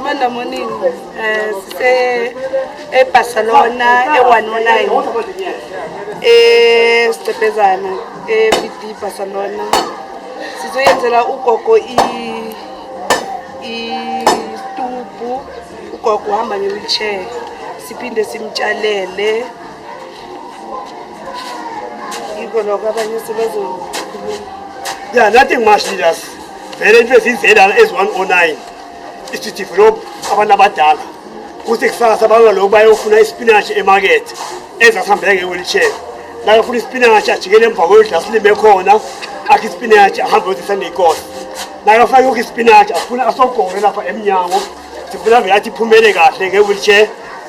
Monday morning eh, sise eBarcelona e-109 eSicebhezana e-BD Barcelona sizoyenzela ugogo istubhu ugogo uhamba nge-wheelchair siphinde simtshalele yiko lokho abanye sebezokhuluma yeah nothing much leaders vele into ezinzelana ezi-109 isidevelop abantu abadala kuthi kusasa bangalokhu bayofuna isipinashi emakethe ezasihambeka nge-wheelchair nakafuna isipinashi ajikele emva kwendlu asilime khona akhe isipinashi ahambe yozisaneyikosa nakafuna yokho isipinashi afuna asogore lapha emnyango sifuna vele athi iphumele kahle nge-wheelchair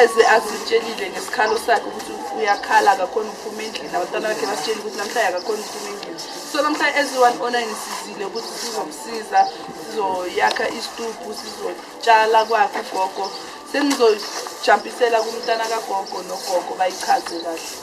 eze asitshelile ngesikhalo sakhe ukuthi uyakhala akakhona ukuphuma endlini abantwana bakhe basitsheli ukuthi namhlanje akakhona ukuphuma endlini so namhlanje eziwani ona ngisizile ukuthi sizomsiza sizoyakha isitubhu sizotshala kwakhe ugogo senizojampisela kumntana kagogo nogogo bayichaze kahle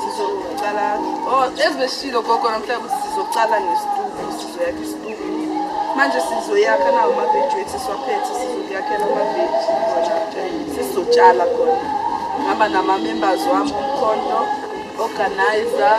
sizoqala oh ezibeshilo gogo namhlanje sizoqala ngesituku sizoyakha isituku manje sizoyakha nawo amaveji wethu siwaphethe sizokuyakhela amaveji sizotshala khona ngihamba nama-members wami omkhonto organizer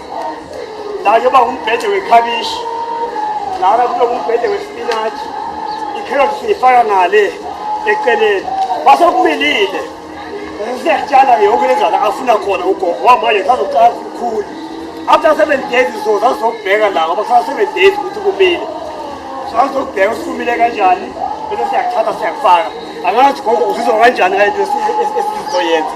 la kuyoba ngumbhede wekhabishi lana kube ngumbhede wespinatshi ikherothi siyifaka ngale eceleni base kumilile siyatshala yonke le ndlala afuna khona ugogo wamanje sazoqala kukhulu after seven days so sasizokubheka la ngoba kusala seven days ukuthi kumile sasizokubheka ukuthi kumile kanjani bese siyakuthatha siyakufaka angazi gogo uzizwa kanjani ngale nto esizoyenza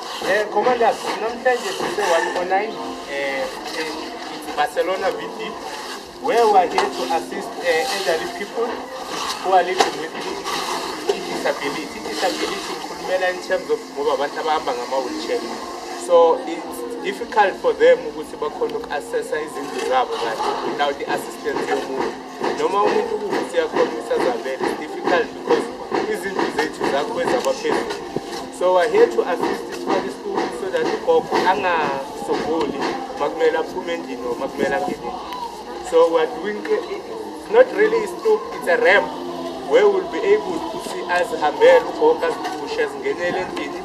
Eh, Commander, namhlanje sise 109 eh, eh, Barcelona VT where we are here to assist uh, elderly people who are living with disability. Disability ngikhulumela in terms of ngoba abantu abahamba ngama-wheelchair. So it's difficult for them ukuthi bakhona uku-assessa izindlu zabo kahle without i-assistance yomuntu. noma umuntu ukuthi yakhona usazavele difficult because izinto zethu zakho ezabaphezulu so i here to assist isifake isikulo so that ugogo angasogoli makumele aphume endlini or makumele angene so we're doing not really a stoop it's a ramp where we'll be able to see as hambela ugogo azipushe azingenele endlini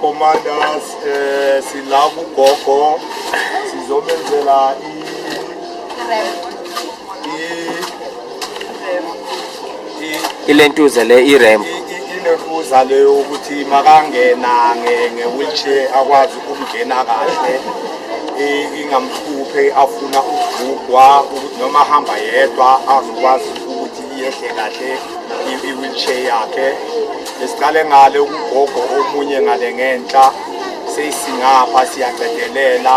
commanders eh sila kugogo sizomenzela i ilentuza le irembo inentuza leyo ukuthi makangena nge-wheelchair akwazi ukungena kahle ingamhluphe afuna ukugugwa ukuthi noma ahamba yedwa azokwazi ukuthi iyehle kahle i-wheelchair yakhe esiqale ngale ukugogo omunye ngale ngenhla seyisingapha siyacedelela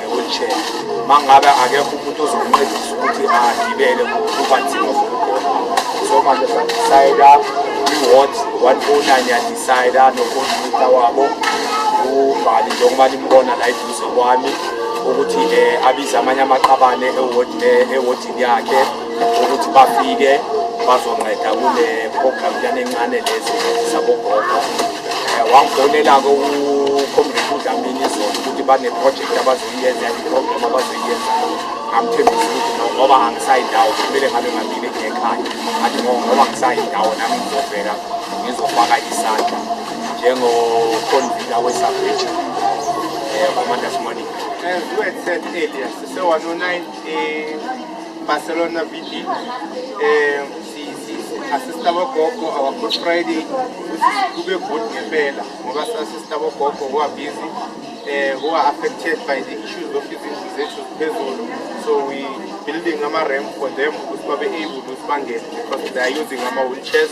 wheelchair mangabe akekho umuntu ozomncedisa ukuthi agibele ngokuba nzima zokugona so manje sadecida i-ward one o oh nine yadecida nokompyuta wabo ubhali njengoba nimbona la eduze kwami ukuthi um abize amanye amaqabane ewodini yakhe ukuthi bafike bazonceda kule program lana encane lezi zabogogo eh, wangifonela-ke ucomrade udlamini izolo ukuthi baneprojekthi abazoyenza iprogram abazoyenza amthembisa ukuthi no ngoba angisayindawo kumele ngabe ngambili ngekhaya athi no ngoba ngisayindawo nami ngizovela ngizofaka isandla njengoconvita wesabheji um eh, commandas morning As we had said earlier, so on 9 Barcelona VD eh asista bogogo our good friday kube good ngempela ngoba sasista bogogo who are busy uh, who are affected by the issues of izindlu zethu ziphezulu so we building ama-ramp for them ukuthi babe able ukuthi bangene because they are using ama-wheelchairs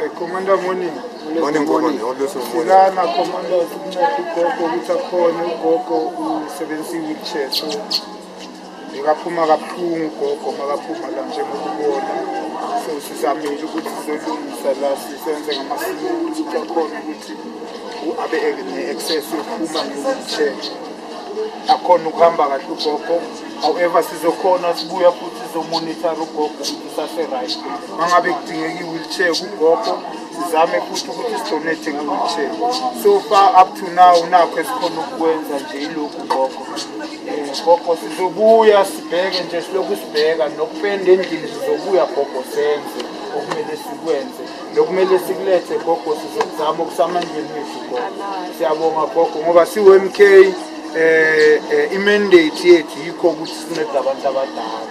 Eh, Commander morning. Morning, morning. Always morning. Silana Commander ukunceda ugogo ukuthi akhone ugogo usebenzisa i-wheelchair so bekaphuma kabuhlungu ugogo makaphuma la njengoba ubona so sizamile ukuthi sizolungisa la sisenze ngamasiko ukuthi akhone ukuthi u- abe ne-access yokuphuma nge-wheelchair akhona ukuhamba kahle ugogo however sizokhona sibuya futhi sizomonitara ugogo sase-right uma ngabe kudingeka i-wheelchair kugogo sizame futhi ukuthi sidonate nge-wheelchair so far up to now nakho esikhona ukukwenza nje yilokhu gogo um gogo sizobuya sibheke nje silokhu sibheka nokupenda endlini sizobuya gogo senze okumele sikwenze nokumele sikulethe gogo sizokuzama okusamandleni wethu gogo siyabonga gogo ngoba siwu-m k um eh, eh, imandate yethu yikho ukuthi sinceda abantu abadala